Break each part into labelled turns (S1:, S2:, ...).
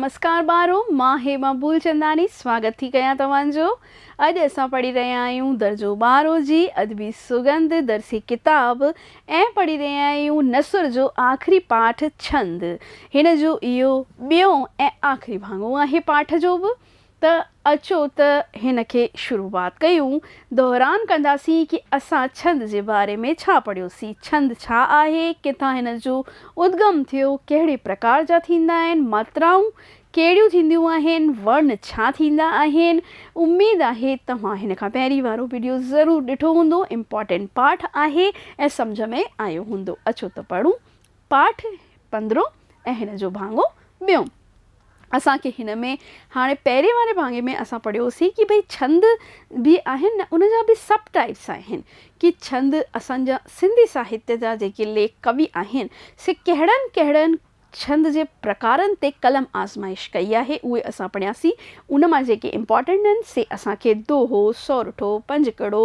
S1: مسڪان ٻارو، مان هيما ڀولچنداني سواگت ٿي ڪيان توهان جو. اڄ اسان پڙهي رهيا آهيون درجو ٻارهون جي ادبي سڳنڌ درسي ڪتاب ۽ پڙهي رهيا آهيون نثر جو آخري پاٺ ڇند. هن جو اهو ٻيون ۽ آخري ڀاڱو آهي پاٺ جو به ته اچو ته هن کي شروعات ڪيون دهران ڪنداسين ڪي اسان ڇند جي باري ۾ ڇا پڙهيوسين، ڇند ڇا آهي، ڪٿان هن جو ادگم ٿيو، ڪهڙي پرڪار جا ٿيندا آهن، ماترائون ڪهڙيون ٿينديون آهن، ورن ڇا ٿيندا آهن، اميد آهي توهان هن کان پهرين وارو وڊيو ضرور ڏٺو هوندو امپارٽينٽ پاٺ آهي ۽ سمجهه ۾ آيو هوندو اچو ته پڙهون پاٺ پندرهون ۽ هن جو ڀاڱو ٻيون. اسان کي هن ۾ هاڻي پهرين واري ڀاڱي ۾ اسان پڙهيو سين ڪي ڀئي ڇند به آهن نه ان جا به سب ٽائيپس آهن ڪي ڇند اسان جا سنڌي ساهتيه جا جيڪي ليک ڪوي آهن سي ڪهڙن ڪهڙن ڇند جي پرڪارن تي قلم آزمائش ڪئي آهي اهي اسان پڙهياسين ان مان جيڪي امپارٽنٽ آهن سي اسان کي دوهو، سورٺو، پنج ڪڙو،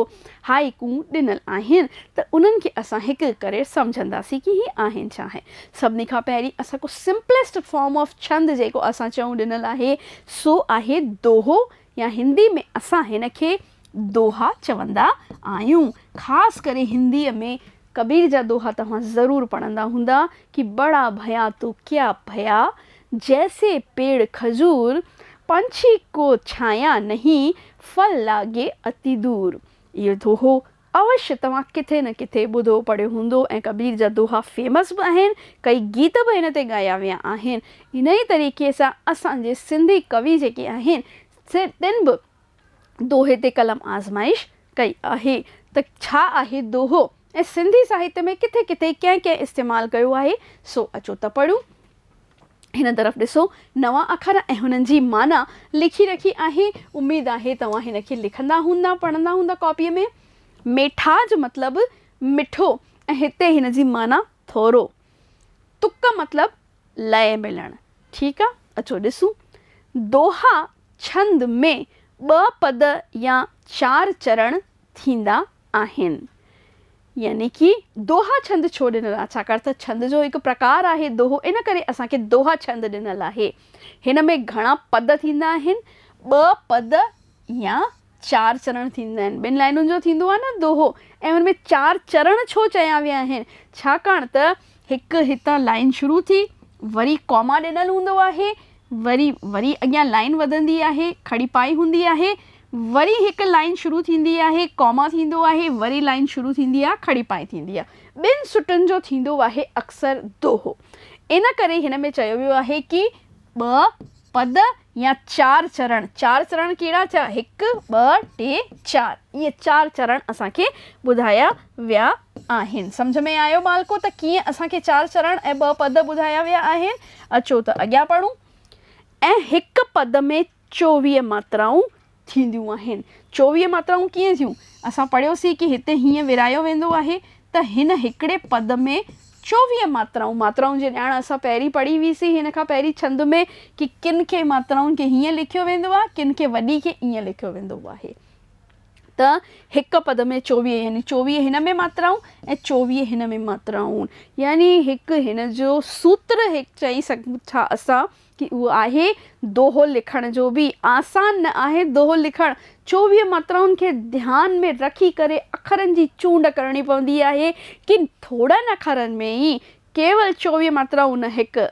S1: هائيڪون ڏنل آهن ته انهن کي اسان هڪ هڪ ڪري سمجهنداسين ڪي هي آهن ڇا آهن. سڀني کان پهرين اسان ڪو سمپلسٽ فارم آف ڇند جيڪو اسان چئون ڏنل آهي سو آهي دوهو يا هندي ۾ اسان هن کي دوها چوندا آهيون خاص ڪري هندي ۾ ڪبير جا دوها توهان ضرور پڙهندا هوندا ڪي بڙا ڀيا تو ڪيا ڀيا، جيسي پيڙ کجور، پنڇي ڪو ڇانيا نهين، ڦل لاڳي اتي دور. اهو دوهو اوش توهان ڪٿي نه ڪٿي ٻڌو پڙهيو هوندو ۽ ڪبير جا دوها فيمس به آهن، ڪئي گيت به هن تي ڳايا ويا آهن. انهيء طريقي سان اسان جي سنڌي ڪوي جيڪي آهن سي تن به. دوهي تي قلم آزمائش ڪئي آهي ته ڇا آهي دوهو ۽ سنڌي ساهتيه ۾ ڪٿي ڪٿي ڪنهن ڪنهن استعمال ڪيو آهي سو اچو ته پڙهون. هن طرف ڏسو نوان اکر ۽ هنن جي معنيٰ لکي رکي آهي. اميد آهي توهان هن کي لکندا هوندا پڙهندا هوندا ڪاپيء ۾. ميٺا جو مطلب مٺو ۽ هتي هن جي معنيٰ ٿورو. تڪ مطلب لئه ملڻ. ٺيڪ آ اچو ڏسون. دوها ڇند ۾ ٻه پد يا چار چرڻ ٿيندا آهن. يعني ڪي دوها ڇند ڇو ڏنل آهي؟ ڇاڪاڻ ته ڇند جو هڪ پرڪار آهي دوهو، ان ڪري اسان کي دوها ڇند ڏنل آهي. هن ۾ گهڻا پد ٿيندا آهن، ٻه پد يا چار چرڻ ٿيندا آهن. ٻن لائنن جو ٿيندو آهي نه دوهو ۽ ان ۾ چار چرڻ ڇو چيا ويا آهن؟ ڇاڪاڻ ته هڪ هتان لائن شروع ٿي وري ڪاما ڏنل هوندو آهي وري وري اڳيان لائن وڌندي آهي کڙي پائي هوندي آهي وري هڪ لائن شروع ٿيندي آهي ڪاما ٿيندو آهي وري لائن شروع ٿيندي آهي کڙي پائي ٿيندي آهي ٻن سٽن جو ٿيندو آهي اڪثر دوهو ان ڪري هن ۾ چيو ويو آهي ڪي ٻه پد يا چار چرڻ، چار چرڻ ڪهڙا ٿيا، هڪ، ٻه، ٽي، چار، اهي چار چرڻ اسان کي ٻڌايا ويا آهن. سمجهه ۾ آيو ٻالڪو ته ڪيئن اسان کي چار چرڻ ۽ ٻه پد ٻڌايا ويا آهن. اچو ته اڳيان پڙهون ۽ هڪ پد ۾ چوويهه ماترائون ٿينديون آهن. چوويهه ماترائون ڪيئن ٿيون؟ اسان پڙهيوسين ڪي هتي هيئن ورهايو ويندو آهي ته هن هڪڙي پد ۾ چوويهه ماترائون، ماترائون جي ڄاڻ اسان پهرين پڙهي هئي سين هن کان پهرين ڇند ۾ ڪي ڪن کي ماترائن کي هيئن لکيو ويندو آهي ڪن کي وڏي کي ايئن لکيو ويندو آهي ته هڪ پد ۾ چوويهه يعني چوويهه هن ۾ ماترائون ۽ چوويهه هن ۾ ماترائون يعني هڪ هن جو سوتر هڪ چئي سگهون ٿا اسان. ڪي اهو آهي، دوهو لکڻ جو به آسان نه آهي، دوهو لکڻ چوويهه ماترائن کي ڌيان ۾ رکي ڪري اکرن جي چونڊ ڪرڻي پوندي آهي، ڪن ٿورن اکرن ۾ ئي ڪيول چوويهه ماترائون نه هڪ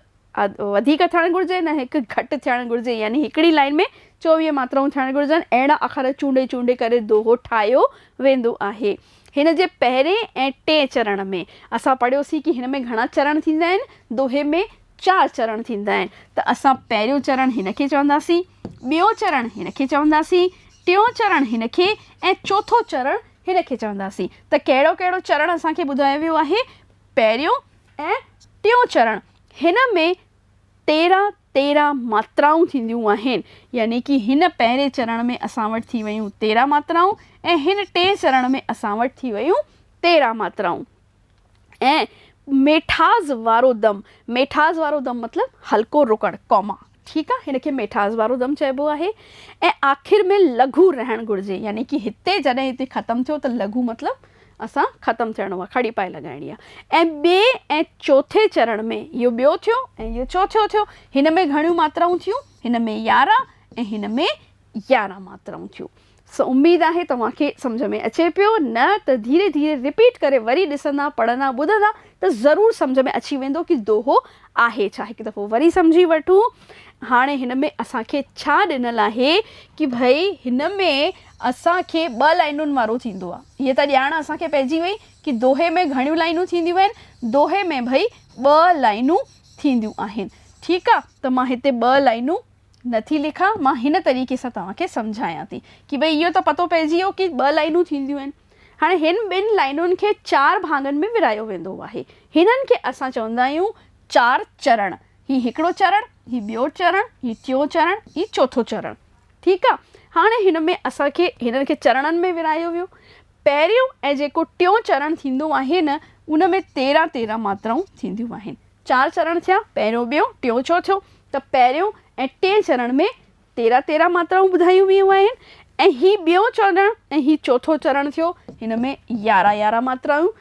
S1: وڌيڪ ٿيڻ گهرجي نه هڪ گهٽ ٿيڻ گهرجي يعني هڪڙي لائين ۾ چوويهه ماترائون ٿيڻ گهرجن اهڙا اکر چونڊي چونڊي ڪري دوهو ٺاهيو ويندو آهي. هن جي پهرين ۽ ٽئين چرڻ ۾ اسان پڙهيوسين ڪي هن ۾ گهڻا چرڻ ٿيندا آهن، دوهي ۾ چار چرڻ ٿيندا آهن ته اسان پهريون چرڻ هن کي چونداسين، ٻيو چرڻ هن کي چونداسين، ٽيون چرڻ هن کي ۽ چوٿون چرڻ هن کي چونداسين. ته ڪهڙو ڪهڙو چرڻ اسان کي ٻڌايو ويو آهي؟ پهريون ۽ ٽيون چرڻ هن ۾ تيرهن تيرهن ماترائون ٿينديون آهن يعني ڪي هن پهرين چرڻ ۾ اسان وٽ ٿي ويون تيرهن ماترائون ۽ هن ٽئين چرڻ ۾ اسان وٽ ٿي ويون تيرهن ماترائون. ۽ ميٺاز وارو دم، ميٺاز وارو دم مطلب هلڪو رڪڻ، ڪاما، ٺيڪ آ هن کي ميٺاز وارو دم چئبو آهي ۽ آخر ۾ لگهو رهڻ گهرجي يعني ڪي هتي جڏهن هتي ختم ٿيو ته لگهو مطلب اسان ختم ٿيڻو آ کڙي پائي لڳائڻي آ ۽ ٻئي ۽ چوٿين چرڻ ۾ اهو ٻيو ٿيو ۽ اهو چوٿيون ٿيو هن ۾ گهڻيون ماترائون ٿيون هن ۾ يارهن ۽ هن ۾ يارهن ماترائون ٿيون سو اميد آهي توهان کي سمجهه ۾ اچي پيو، نه ته ڌيري ڌيري رپيٽ ڪري وري ڏسندا، پڙهندا، ٻڌندا ته ضرور سمجهه ۾ اچي ويندو ڪي دوهو آهي ڇا، هڪ دفعو وري سمجهي وٺون هاڻي هن ۾ اسان کي ڇا ڏنل آهي ڪي ڀئي هن ۾ اسان کي ٻه لائينن وارو ٿيندو آ هيء ته ڄاڻ اسان کي پئجي وئي ڪي دوهي ۾ گهڻيون لائينون ٿينديون آهن دوهي ۾ ڀئي ٻه لائينون ٿينديون آهن ٺيڪ آ ته مان هتي ٻه لائينون نه ٿي لکان، مان هن طريقي سان توهان کي سمجهايان ٿي ڪي ڀئي اهو ته پتو پئجي ويو ڪي ٻه لائينون ٿينديون آهن. هاڻي هن ٻن لائينن کي چار ڀاڱن ۾ ورهايو ويندو آهي. هنن کي اسان چوندا آهيون چار چرڻ. هي هڪڙو چرڻ، هي ٻيو چرڻ، هي ٽيون چرڻ، هي چوٿون چرڻ. ٺيڪ آ. هاڻي هن ۾ اسان کي هنن کي چرڻن ۾ ورهايو ويو. پهريون ۽ جيڪو ٽيون چرڻ ٿيندو آهي نه ان ۾ تيرهن تيرهن ماترائون ٿينديون آهن. چار چرڻ ٿيا، پهريون، ٻيو، ٽيون، چوٿيون ته پهريون ۽ ٽئين چرڻ ۾ تيرهن تيرهن ماترائون ٻڌايون ويون آهن ۽ هي ٻيون چرڻ ۽ هي چوٿون چرڻ ٿيو، هن ۾ يارهن يارهن ماترائون،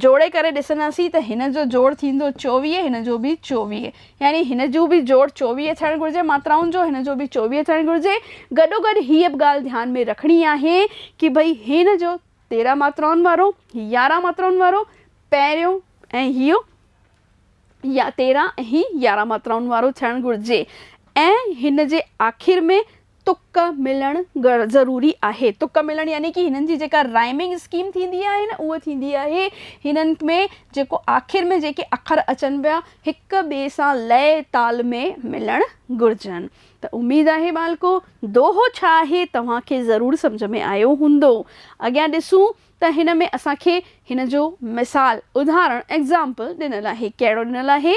S1: جوڙي ڪري ڏسنداسين ته هن جو جوڙ ٿيندو چوويهه هن جو به چوويهه يعني هن جو به جوڙ چوويهه ٿيڻ گهرجي ماترائن جو هن جو به چوويهه ٿيڻ گهرجي، گڏوگڏ هيء به ڳالهه ڌيان ۾ رکڻي آهي ڪي ڀئي هن جو تيرهن ماترائن وارو، هي يارهن ماترائن وارو، پهريون ۽ هيء يا تيرهن ۽ هي يارهن ماترائن وارو ٿيڻ گهرجي ۽ هن جي آخر ۾ تڪ ملڻ ضروري آهي. تڪ ملڻ يعني ڪي هنن جي جيڪا رائمنگ اسڪيم ٿيندي آهي نه اهو ٿيندي آهي هنن ۾ جيڪو آخر ۾ جيڪي اکر اچن پيا هڪ ٻئي سان لئه تال ۾ ملڻ گهرجن ته اميد آهي ٻالڪو دوهو ڇا آهي توهان کي ضرور سمجهه ۾ آيو هوندو اڳيان ڏسون ته هن ۾ اسان کي هن جو مثال، ادهارڻ، Example، ڏنل آهي. ڪهڙو ڏنل آهي؟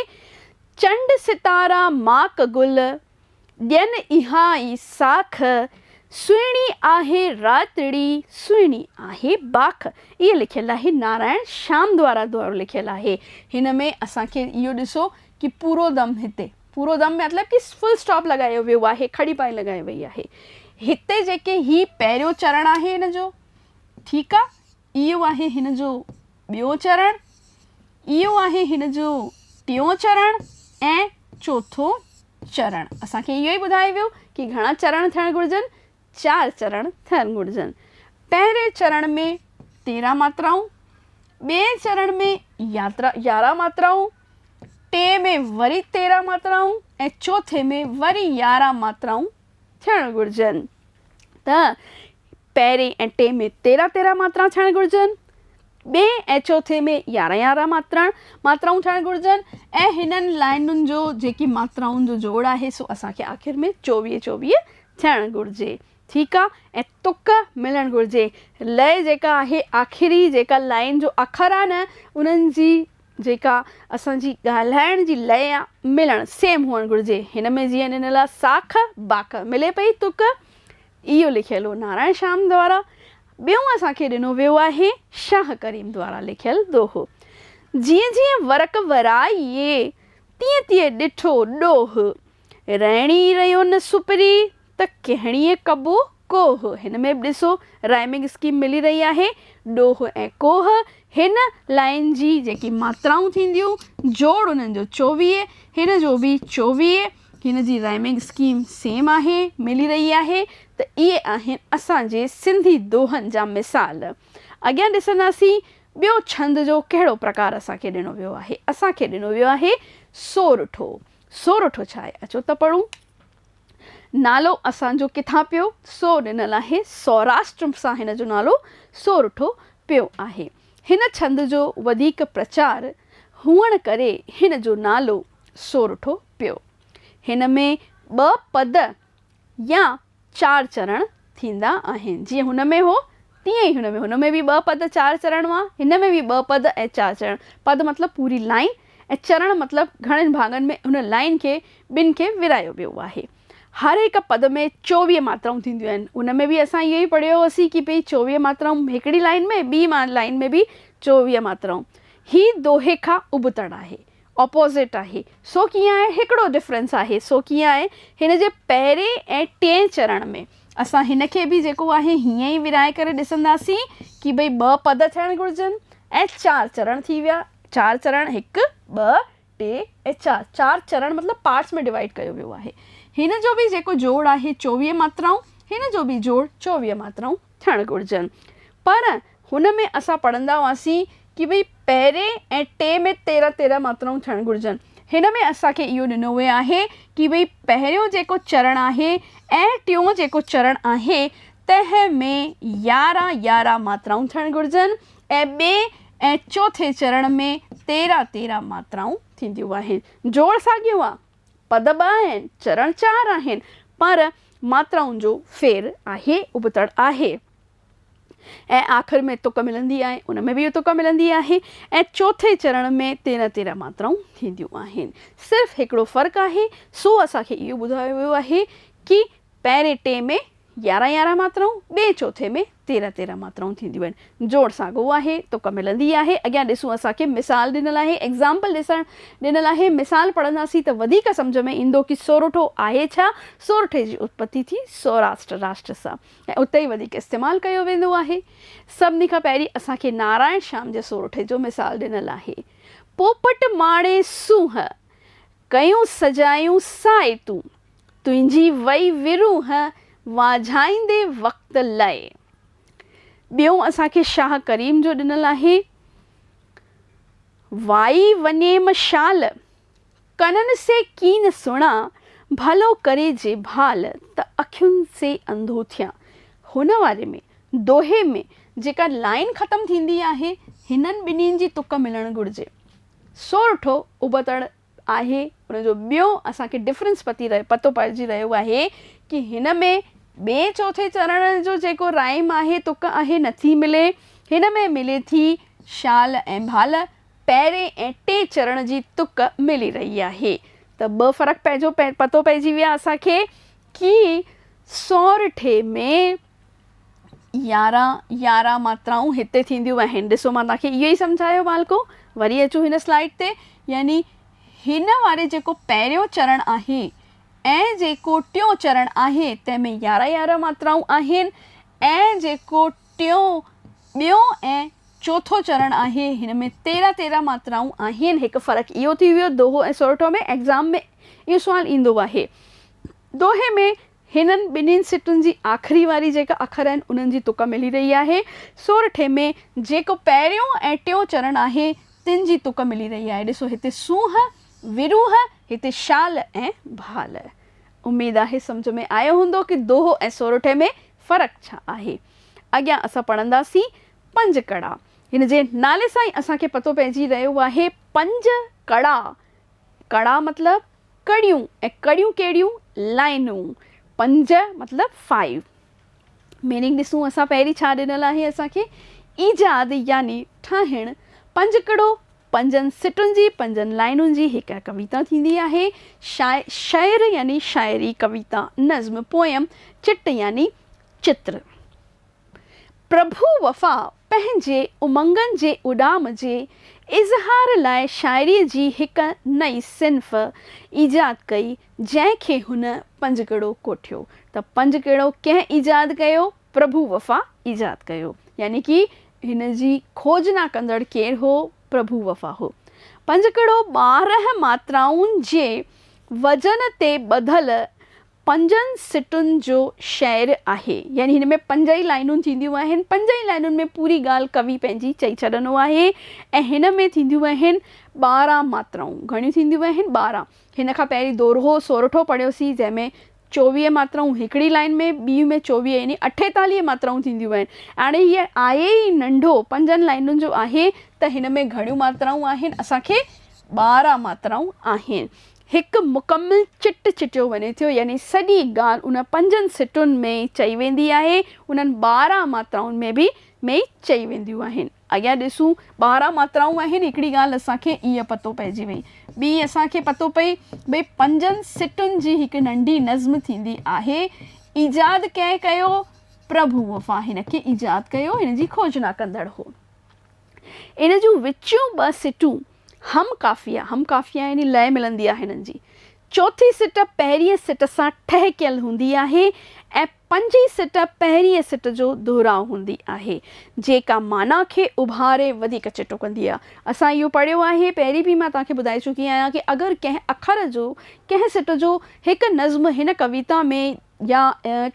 S1: چنڊ ستارا ماڪ گل، ڏين اها ئي ساک، سهڻي آهي راتڙي، سهڻي آهي باک. اهي لکيل آهي نارائڻ شيام دوارا دوارو لکيل آهي. هن ۾ اسان کي اهو ڏسو ڪي پورو دم هتي، پورو دم مطلب ڪي فل اسٽاپ لڳايو ويو آهي، کڙي پائي لڳائي وئي آهي. هتي جيڪي هي پهريون چرڻ آهي هن جو، ٺيڪ آ، اهو آهي هن جو ٻيو چرڻ، اهو آهي هن جو ٽيون چرڻ ۽ چوٿو چرڻ. اسان کي اهو ئي ٻڌايو ويو ڪي گهڻا چرڻ ٿيڻ گهرجن، چار چرڻ ٿيڻ گهرجن. پهرين چرڻ ۾ تيرهن ماترائون، ٻئي چرڻ ۾ يارهن ماترائون، ٽئين ۾ وري تيرهن ماترائون ۽ چوٿين ۾ وري يارهن ماترائون ٿيڻ گهرجن. ته پهرين ۽ ٽئين ۾ تيرهن تيرهن ماترا ٿيڻ گهرجن، ٻئي ۽ چوٿين ۾ يارهن يارهن ماترا ماترائون ٿيڻ گهرجن ۽ هنن لائينن جو جيڪي ماترائن جو جوڙ آهي سو اسان کي آخر ۾ چوويهه چوويهه ٿيڻ گهرجي. ٺيڪ آ ۽ تڪ ملڻ گهرجي. لئه جيڪا آهي آخري جيڪا لائين جو اکر آ نه انهن جي جيڪا اسان جي ڳالهائڻ جي لئه آ ملڻ سيم هئڻ گهرجي. هن ۾ جيئن ڏنل آ ساک باک ملي پئي تڪ اهو لکيل هو نارائڻ شيام دوارا. ٻيون اسان کي ڏنو ويو آهي شاهه ڪريم دوارا لکيل دوهو. جيئن جيئن ورق ورائي، تيئن تيئن ڏٺو ڏوهه. رئڻي ريو نه سپري، ته ڪهڻيء ڪبو ڪوهه. هن ۾ به ڏسو رائمنگ اسڪيم ملي رهي آهي. ڏوهه ۽ ڪوهه هن لائين جي جيڪي ماترائون ٿينديون، جوڙ انهن جو چوويهه، هن جو به چوويهه. هن جي رائمنگ اسڪيم سيم آهي، ملي رهي آهي ته اهي آهن اسان جي سنڌي دوهن جا مثال. اڳيان ڏسنداسين ٻيو ڇند جو ڪهڙو پرڪار اسان کي ڏنو ويو آهي. اسان کي ڏنو ويو آهي سورٺو. سورٺو ڇا آهي؟ اچو ته پڙهون. نالو اسان جو ڪٿان پيو؟ سو ڏنل آهي. سوراشٽر سان هن جو نالو سورٺو پيو آهي. هن ڇند جو وڌيڪ پرچار هئڻ ڪري هن جو نالو سورٺو پيو. هن ۾ ٻه پد يا چار چرڻ ٿيندا آهن. جيئن هن ۾ هو تيئن ئي هن ۾. هن ۾ به ٻه پد چار چرڻ هئا، هن ۾ به ٻه پد ۽ چار چرڻ. پد مطلب پوري لائين ۽ چرڻ مطلب گهڻن ڀاڱن ۾ هن لائين کي ٻن کي ورهايو ويو آهي. هر هڪ پد ۾ چوويهه ماترائون ٿينديون آهن. ان ۾ به اسان اهو ئي پڙهيو هوسين ڪي ڀئي چوويهه ماترائون هڪڙي لائين ۾، ٻي لائين ۾ به چوويهه ماترائون. هي دوهي کان ابتڙ آهي. اپوزٽ آهي سو ڪيئن آهي هڪڙو ڊفرنس آهي سو ڪيئن آهي هن جي پهرين ۽ ٽئين چرڻ ۾ اسان هن کي به جيڪو آهي هيئن ئي ورهائي ڪري ڏسنداسين ڪي ڀئي ٻه پد ٿيڻ گهرجن ۽ چار چرڻ ٿي ويا چار چرڻ هڪ ٻه ٽي ۽ چار چار چرڻ مطلب پارٽس ۾ ڊوائيڊ ڪيو ويو آهي هن جو به جيڪو جوڙ آهي چوويهه ماترائون هن جو به جوڙ چوويهه ماترائون ٿيڻ گهرجن پر هن ۾ اسان پڙهندا هئاسين ڪي ڀئي پهرين ۽ ٽي ۾ تيرهن تيرهن ماترائون ٿيڻ گهرجن. هن ۾ اسان کي اهو ڏنو ويو آهي ڪي ڀئي پهريون جيڪو چرڻ آهي ۽ ٽيون جيڪو چرڻ آهي تنهن ۾ يارهن يارهن ماترائون ٿيڻ گهرجن ۽ ٻئي ۽ چوٿين چرڻ ۾ تيرهن تيرهن ماترائون ٿينديون آهن. جوڙ ساڳيو آهي. پد ٻه آهن، چرڻ چار آهن پر ماترائن جو ڦير آهي، ابتڙ آهي. ۽ آخر ۾ تڪ ملندي آهي ان ۾ به اهو تڪ ملندي آهي ۽ چوٿين چرڻ ۾ تيرهن تيرهن ماترائون ٿينديون آهن صرف هڪڙو فرق آهي سو اسان کي اهو ٻڌايو ويو آهي ڪي پهرين ٽي ۾ يارهن يارهن ماترائون ٻئي چوٿين ۾ تيرهن تيرهن ماترائون ٿينديون آهن جوڙ ساڳو آهي تڪ ملندي آهي اڳيان ڏسون اسان کي مثال ڏنل آهي ايگزامپل ڏسڻ ڏنل آهي مثال پڙهنداسين ته وڌيڪ سمجهه ۾ ايندو ڪي سورٺو آهي ڇا سورٺي جي اتپتي ٿي سوراسٽ راشٽر سان ۽ اتي ئي وڌيڪ استعمال ڪيو ويندو آهي. سڀني کان پهرين اسان کي نارائڻ شيام جي سورٺي جو مثال ڏنل آهي. پوپٽ ماڻي سونهن، ڪيون سجايون سائي تون، تنهنجي وئي ورونهن، وانجهائيندي وقت لئي. ٻيون اسان کي شاهه ڪريم جو ڏنل آهي. وائي ونيم شال، ڪنن سي ڪين سڻان، ڀلو ڪري جي ڀال ته اکين سي انڌو ٿيان. هن واري ۾ دوهي ۾ جيڪا لائين ختم ٿيندي آهي، هنن ٻنهين جي تڪ ملڻ گهرجي. سورٺو ابتڙ آهي ان جو ٻيو اسان کي ڊفرنس پتي رهي پتو پئجي رهيو آهي ڪي هن ۾ ٻئي چوٿين چرڻ جو جيڪو رائيم آهي تڪ آهي نٿي ملي هن ۾ ملي ٿي شال ۽ ڀال. پهرين ۽ ٽئين چرڻ جي تڪ ملي رهي آهي ته ٻه فرق پنهنجو پتو پئجي ويا اسان کي ڪي سورٺي ۾ يارهن يارهن ماترائون هتي ٿينديون آهن ڏسو مان توهان کي اهو ئي سمجهايو ٻالڪو وري اچون هن سلائيڊ تي يعني هن واري جيڪو پهريون چرڻ آهي ۽ جيڪو ٽيون چرڻ آهي تنهن ۾ يارهن يارهن ماترائون آهن ۽ جيڪو ٽيون، ٻيون ۽ چوٿون چرڻ آهي. هن ۾ تيرهن تيرهن ماترائون آهن. هڪ فرق اهو ٿي ويو دوهو ۽ سورٺو ۾ ايگزام ۾ اهو سوال ايندو آهي. دوهي ۾ هنن ٻنهين سٽن جي آخري واري جيڪا اکر آهن انهن جي تڪ ملي رهي آهي. سورٺي ۾ جيڪو پهريون ۽ ٽيون چرڻ آهي تن جي تڪ ملي رهي آهي. ڏسو هتي سونهن، وروهه، هتي شال ۽ ڀال. اميد آهي سمجهه ۾ آيو هوندو ڪه دوهو ۽ سورٺي ۾ فرق ڇا آهي؟ اڳيان اسان پڙهنداسين پنج ڪڙا. هن جي نالي سان ئي اسان کي پتو پئجي رهيو آهي پنج ڪڙا. ڪڙا مطلب ڪڙيون ۽ ڪڙيون ڪهڙيون؟ لائنون. پنج مطلب Five. ميننگ ڏسون اسان پهرين ڇا ڏنل آهي اسان کي ايجاد يعني ٺاهڻ. پنج ڪڙو پنجن سٽن جي پنجن لائنن جي هڪ ڪويتا ٿيندي آهي. شاعر، شعر يعني شاعري، ڪويتا، نظم، پوئم، چٽ يعني چتر. پرڀو وفا پنهنجي امنگن جي اڏام جي اظهار لاء شاعري جي هڪ نئين صنف ايجاد ڪئي، جنهن کي هن پنجڪڙو ڪوٺيو. ته پنجڪڙو ڪنهن ايجاد ڪيو؟ پرڀو وفا ايجاد ڪيو. يعني ڪي هن جي کوج نه ڪندڙ ڪير هو؟ پرڀو وفا هو. پنج ڪڙو ٻارنهن ماترائن جي وزن تي ٻڌل پنجن سٽن جو شعر آهي. يعني هن ۾ پنج ئي لائنون ٿينديون آهن. پنج ئي لائنن ۾ پوري ڳالهه ڪوي پنهنجي چئي ڇڏندو آهي ۽ هن ۾ ٿينديون آهن ٻارنهن ماترائون. گهڻيون ٿينديون آهن؟ ٻارنهن. هن کان پهرين دورهو سورٺو پڙهيوسين جنهن ۾ چوويهه ماترائون هڪڙي لائين ۾، ٻي ۾ چوويهه يعني اٺيتاليهه ماترائون ٿينديون آهن. هاڻي هيء آهي ئي ننڍو، پنجن لائينن جو آهي، ته هن ۾ گهڻيون ماترائون آهن، اسان کي ٻارهن ماترائون آهن. هڪ مڪمل چٽ چٽيو وڃي ٿيو، يعني سڄي ڳالهه ان پنجن سٽن ۾ ئي چئي ويندي آهي، انهن ٻارهن ماترائن ۾ به ۾ ئي چئي وينديون آهن. اڳيان ڏسون. ٻارهن ماترائون آهن. هڪڙي ڳالهه اسان کي ائين پتو پئجي وئي. ٻي اسان کي پتو پئي ڀئي پنجن سٽن جي هڪ ننڍي نظم ٿيندي آهي. ايجاد ڪنهن ڪيو؟ پرڀو وفا هن کي ايجاد ڪيو، هن جي کوجنا ڪندڙ هو. ان جون وچيون ٻه سٽون هم قافيه، هم قافيه يعني لئه ملندي آهي هنن جي. چوٿين سٽ پهرينء سٽ سان ٺهڪيل هوندي آهي ۽ پنجين سٽ پهرينء سٽ جو دهراء هوندي آهي، جيڪا معنيٰ کي اڀاري وڌيڪ چٽو ڪندي آهي. اسان اهو پڙهيو آهي، پهرين به مان توهان کي ٻڌائي چڪي آهيان ڪي اگر ڪنهن اکر جو، ڪنهن سٽ جو هڪ نظم هن ڪويتا ۾ يا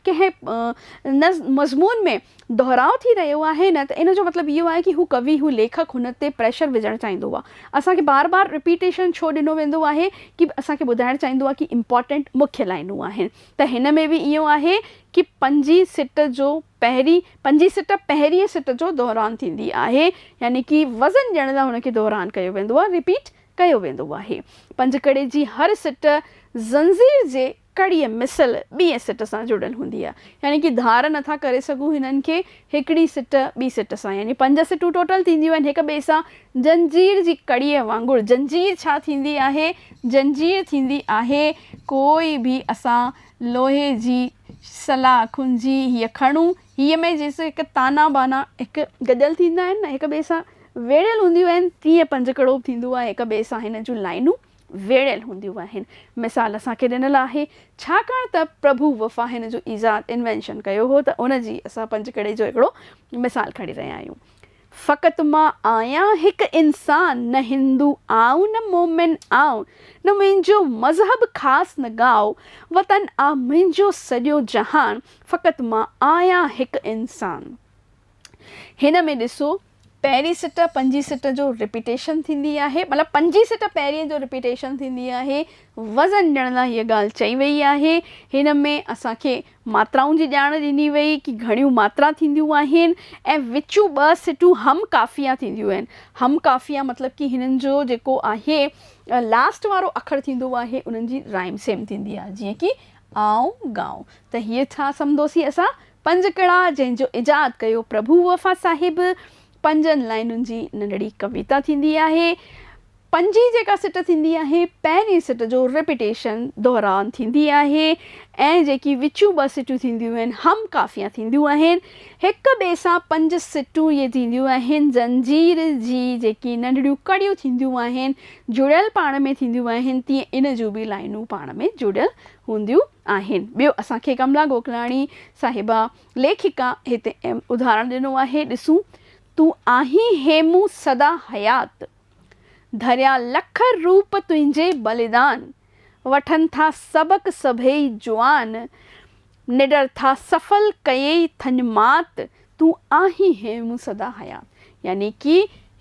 S1: ڪنهن مضمون ۾ دهراء ٿي رهيو آهي نه ته ان جو مطلب اهو آهي ڪي هو ڪوي، هو ليکڪ هن تي پريشر وجهڻ چاهيندو آهي. اسان کي بار بار رپيٽيشن ڇو ڏنو ويندو آهي ڪي اسان کي ٻڌائڻ چاهيندو آهي ڪي امپارٽنٽ مکيه لائينون آهن. ته هن ۾ به ائين آهي ڪي پنجي سٽ جو پهرين پنجي سٽ پهرينء سٽ جو دهران ٿيندي آهي يعني ڪي وزن ڏيڻ لاء هن کي دهران ڪيو ويندو آهي Repeat ڪيو ويندو آهي پنجڪڙي جي هر سٽ زنجير جي ڪڙي مثل ٻئي سٽ سان جڙيل هوندي آهي يعني ڪي ڌار نٿا ڪري سگهون هنن کي هڪڙي سٽ ٻي سٽ سان يعني پنج سٽون ٽوٽل ٿينديون آهن هڪ ٻئي سان زنجير جي ڪڙيء وانگر زنجير ڇا ٿيندي آهي؟ زنجير ٿيندي آهي ڪوئي به اسان لوهي جي سلا کنجي هيء کڻون هيء ۾ جيئن هڪ تانا بانا هڪ گڏيل ٿيندا آهن نه هڪ ٻئي سان ويڙهيل هونديون آهن تيئن پنج ڪڙو به ٿيندو آهي هڪ ٻئي سان هن جون لائينون ويڙهيل هونديون آهن. مثال اسان کي ڏنل آهي، ڇاڪاڻ ته پرڀو وفا هن جو ايجاد، Invention، ڪيو هو ته ان جي اسان پنجڪڙي جو هڪڙو مثال کڻي رهيا آهيون. فقط مان آهيان هڪ انسان، نه هندو آئون نه مومن آئون، نه منهنجو مذهب خاص نه ڳائو وطن آ منهنجو سڄو جهان، فقط مان آهيان هڪ انسان. هن ۾ ڏسو. پهرين سٽ پنجين سٽ جو رپيٽيشن ٿيندي آهي مطلب پنجين سٽ پهرين جو رپيٽيشن ٿيندي آهي وزن ڏيڻ لاء هيء ڳالهه چئي ويئي آهي هن ۾ اسان کي ماترائن جي ڄاڻ ڏني ويئي ڪي گهڻيون ماترا ٿينديون آهن ۽ وچون ٻه سٽون هم قافيه ٿينديون آهن هم قافيه مطلب ڪي هنن جو جيڪو آهي لاسٽ وارو اکر ٿيندو آهي انهن جي رائيم سيم ٿيندي آهي جيئن ڪي آئون ڳائون ته هيء ڇا سمجهندوسين اسان پنج ڪڙا جنهن جو ايجاد ڪيو پرڀو وفا صاحب پنجن لائنن جي ننڍڙي ڪويتا ٿيندي آهي. پنجين جيڪا سٽ ٿيندي آهي پهرين سٽ جو رپيٽيشن، دهرائن، ٿيندي آهي ۽ جيڪي وچيون ٻه سٽيون ٿينديون آهن هم قافيه ٿينديون آهن. هڪ ٻئي سان پنج سٽون اهي ٿينديون آهن زنجير جي جيڪي ننڍڙيون ڪڙيون ٿينديون آهن جڙيل پاڻ ۾ ٿينديون آهن تيئن ان جون به لائنون پاڻ ۾ جڙيل هونديون آهن. ٻيو اسان کي ڪملا گوڪلاڻي صاحبه ليکڪا هتي اهم ادهارڻ ڏنو آهي، ڏسون، تون آهين هيمون سدا حيات، ڌريا لک روپ تنهنجي بليدان، وٺن ٿا سبق سڀيئي جوان، نڊر ٿا سڦل ڪيئي ٿڃ مات، تون آهين هيمون سدا حيات. يعني ڪي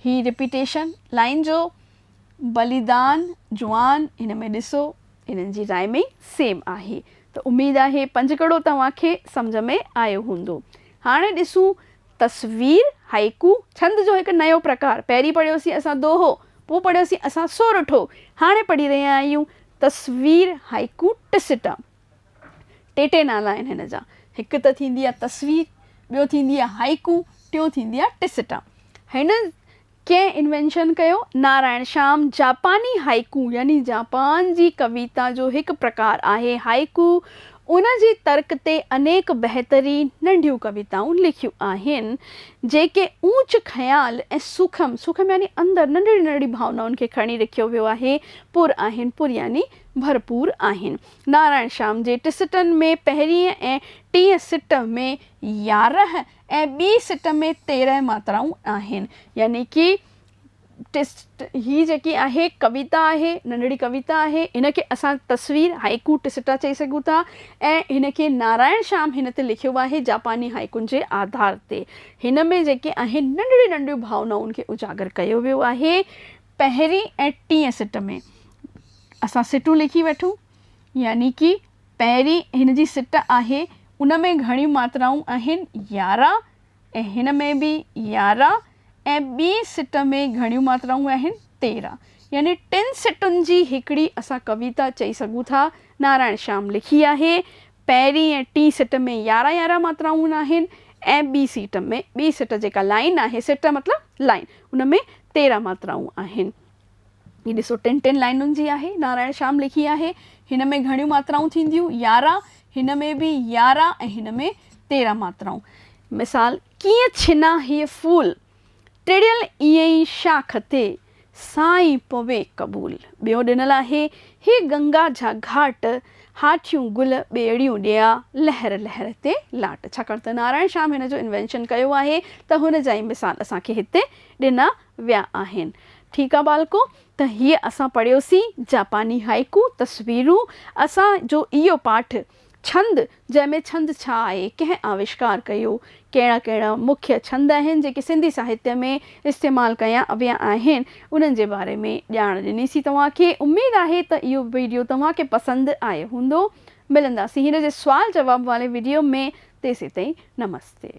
S1: هي ريپيٽيشن لائين جو بليدان جوان هن ۾ ڏسو انهن جي راء ۾ سيم آهي ته اميد آهي پنجڪڙو توهان کي سمجهه ۾ آيو هوندو. هاڻي ڏسون تصوير، هائيڪو، ڇند جو هڪ نيو پرڪار. پهرين پڙهيوسين اسان دوهو، پوء پڙهيوسين اسان سورٺو، هاڻي پڙهي رهيا آهيون تصوير، هائيڪو، ٽسٽا. ٽي ٽي نالا آهن هن جا. هڪ ته ٿيندي آهي تصوير، ٻيو ٿيندي آهي هائيڪو، ٽيون ٿيندي آهي ٽسٽا. هن ڪنهن انوينشن ڪيو؟ نارائڻ شام جاپاني هائيڪو يعني جاپان جي ڪويتا جو هڪ پرڪار آهي. هائيڪو ان جي ترڪ تي انيڪ بهترين ننڍيون ڪويتائون لکيون آهن، جيڪي اوچ خيال ۽ سوکم، سوکم يعني اندر ننڍڙي ننڍڙي ڀاونائن کي کڻي رکيو ويو آهي، پر آهن، پر يعني ڀرپور آهن. نارائڻ شام جي ٽي سٽن ۾ پهرينء ۽ ٽئين سٽ ۾ يارهن ۽ ٻي سٽ ۾ تيرهن ماترائون آهن. يعني ڪي ٽسٽ هي جيڪي آهي ڪويتا آهي، ننڍڙي ڪويتا آهي، هن کي اسان تصوير، هائيڪو ٽسٽا چئي سگهون ٿا ۽ هن کي نارائڻ شام هن تي لکيو آهي جاپاني هائيڪون جي آڌار تي. هن ۾ جيڪي آهن ننڍڙيون ننڍڙيون ڀاونائن کي اجاگر ڪيو ويو آهي. پهرين ۽ ٽين سٽ ۾ اسان سٽون لکي وٺون يعني ڪي پهرين هن جي سٽ آهي، ان ۾ گهڻيون ماترائون آهن، يارهن، ۽ هن ۾ به يارهن، ۽ ٻي سٽ ۾ گهڻيون ماترائون آهن، تيرهن. يعني ٽن سٽن جي هڪڙي اسان ڪويتا چئي سگهون ٿا. نارائڻ شيام لکي آهي، پهرين ۽ ٽين سٽ ۾ يارهن يارهن ماترائون آهن، ۽ ٻي سيٽ ۾، ٻي سٽ جيڪا لائين آهي، سٽ مطلب لائين، ان ۾ تيرهن ماترائون آهن. هي ڏسو ٽن ٽن لائنن جي آهي، نارائڻ شيام لکي آهي، هن ۾ گهڻيون ماترائون ٿينديون يارهن، هن ۾ به يارهن ۽ هن ۾ تيرهن ماترائون. مثال، ڪيئن ڇنان هيء ڦول، ٽڙيل ايئن ئي شاخ تي، سائين پوي قبول. ٻيو ڏنل آهي، هي گنگا جا گهاٽ، هاٺيون گل ٻيڙيون ڏيئا، لهر لهر تي لاٽ. ڇاڪاڻ ته نارائڻ شيام هن جو انوينشن ڪيو آهي ته هن جا ئي مثال اسان کي هتي ڏنا ويا آهن. ٺيڪ آ ٻالڪو ته هيء اسان پڙهيوسين جاپاني هائيڪو، تصويرون، اسان جو اهو پاٺ، ڇند، جنهن ۾ ڇند ڇا آهي، ڪنهن آوشڪار ڪيو، ڪهڙا ڪهڙا مکيه ڇند آهن جيڪي سنڌي ساهتيه ۾ استعمال ڪيا ويا آهن، انهن جي باري ۾ ڄاڻ ڏنيسين توهان کي. اميد آهي ته اهو وڊيو توهان کي پسند آيو هوندو. ملنداسين هن جي سوال جواب واري وڊيو ۾ تيسين تائين نمستي.